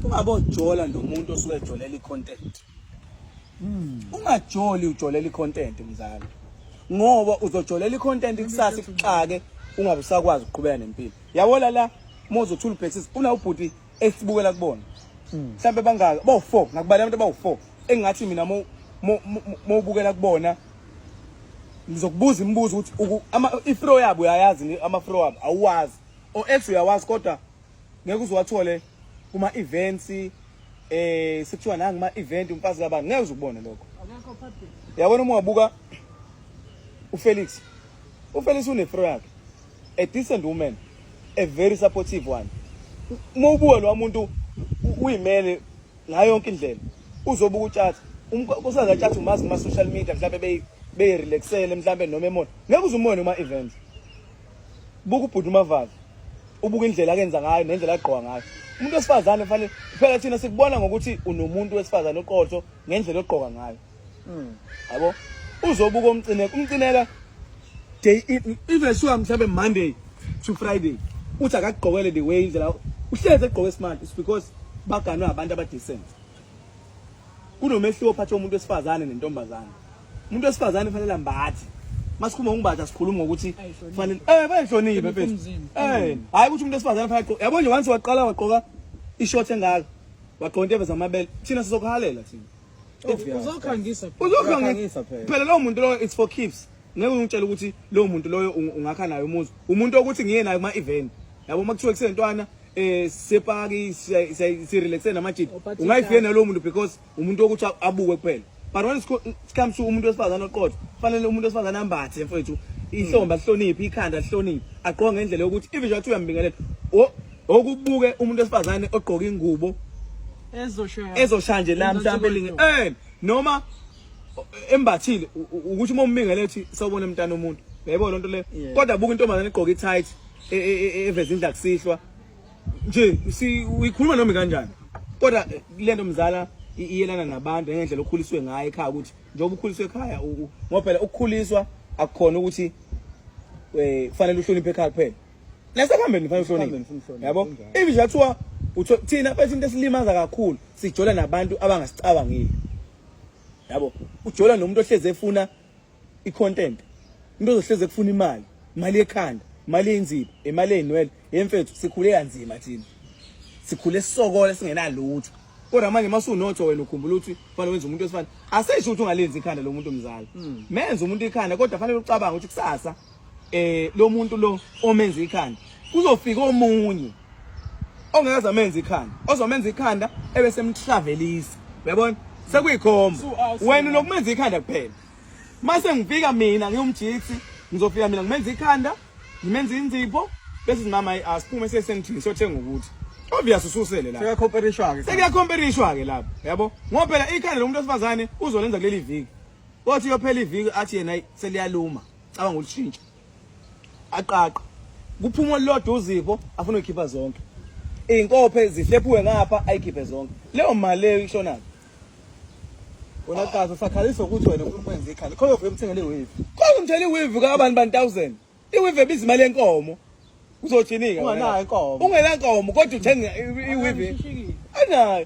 ungabojola nomuntu osuke ejolela icontent hmm. ungajoli ujolela icontent mzali ngoba uzojolela icontent kusasa ikuxake ungabe usakwazi ukuqhubeka nempilo yabona la mozo uthula ubhekisisa una ubhuti esibukela kubona hmm. mhlawumbe bangaka bawu-four ngakubala abantu abawu-four engingathi mina mowubukela kubona ngizokubuza imibuzo ukuthi ifro yabo uyayazi amafro wabo awuwazi o-ex uyawazi kodwa ngeke uziwathole kuma events eh sekuthiwa nangi ma event umfazi kabani ngeke uzubone lokho akekho public yabona uma wabuka uFelix uFelix unefro yakhe a decent woman a very supportive one uma ubuka lo muntu uyimele ngayo yonke indlela uzobuka utshatha usaza tshatha umazi kuma social media mhlawumbe beyi beyirelaxele mhlawumbe noma emona ngeke uzumone uma events buka ubhuti umavazi ubuka indlela akenza ngayo nendlela agqoka ngayo umuntu wesifazane fanele phela thina sikubona ngokuthi unomuntu wesifazane oqotho ngendlela ogqoka ngayo hmm. yabo uzobuka umcineka umcineka day even sure mhlawumbe monday to friday uthi akagqokele the way indlela uhlezi egqoke smart is because baganwe abantu abadecent kunomehluko phakathi komuntu wesifazane nentombazane umuntu wesifazane kufanele ambathe masikhuluma ngokumbatha sikhuluma ngokuthi kufanele eh bayihloniphe mfethu eh hayi ukuthi umuntu wesifazane kufanele agqoke yabo nje once waqala wagqoka ishort engaka wagqoka into eveza amabele thina sizokuhalela thina oh, uzokhangisa uzokhangisa phela lowo muntu lowo it's for keeps ngeke ungitshele ukuthi lowo muntu loyo ungakha naye umuzi umuntu okuthi ngiye naye kuma event yabo makuthiwa kusentwana eh sepaki si relaxe namajidi ungayifike nalowo muntu because umuntu wokuthi abuke kuphela but when it comes to umuntu wesifazane oqotho kufanele umuntu wesifazane ambathe mfowethu ihlomba mm. lihloniphe ikhanda lihloniphe agqoke ngendlela yokuthi even njengathi uyambingelela okubuke umuntu wesifazane ogqoke ingubo ezoshaya nje la mhlawumbe elinge eh noma embathile ukuthi uma umbingele uthi sawubona mntana omuntu yebo lonto le kodwa buka intombazane igqoke i-tight e, e, e, eveza indla kusihlwa nje si uyikhuluma noma kanjani kodwa eh, lento mzala iyelana nabantu ngendlela okhuliswe ngayo ekhaya ukuthi njengoba ukhuliswe ekhaya ngoba phela ukukhuliswa akukhona ukuthi eh kufanele uhloniphe ekhaya kuphela nasekhambeni kufanele uhloniphe yabo even nje kuthiwa thina bathi into esilimaza kakhulu sijola nabantu abangasicabangile yabo ujola nomuntu ohleze efuna icontent into ezohleze kufuna imali imali yekhanda imali yeinziba imali yeinwele yemfethu sikhule kanzima thina sikhule sisokole singenalutho kodwa manje masunotho wena ukhumbula ukuthi fanele wenze umuntu wesifana asisho ukuthi ungalenzi ikhanda lomuntu mzali hmm. menze umuntu ikhanda kodwa fanele ucabange ukuthi kusasa eh lo muntu lo omenza ikhanda kuzofika omunye ongakaze amenze ikhanda ozomenza ikhanda ebese emtravelisa uyabona sekuyikhomba wena unokumenza ikhanda kuphela mase ngifika mina ngiyumjitsi ngizofika mina ngimenza ikhanda ngimenza inzipho bese simama asiphume sesentini siyothenga ukuthi obvious ususele la sekuyakhomperishwa ke sekuyakhomperishwa ke lapho yabo ngoba phela ikhanda lomuntu osifazane uzolenza kuleli viki othi yophela iviki athi yena seliyaluma cabanga ulishintsha aqaqa kuphuma olulodwa uzipho afuna ukukhipha zonke iy'nkophe zihlephuwe ngapha ayikhiphe zonke leyo mali leyo ishonaphi wena kazi usakhalisa ukuthi wena ufuna ukwenza ikhanda khona ufike umthengele iweave khona umthengele iweave kabani bani 1000 iweave ebiza imali yenkomo uzothini-ke ungenayo inkomo ungenankomo kodwa uthenga iweave anayo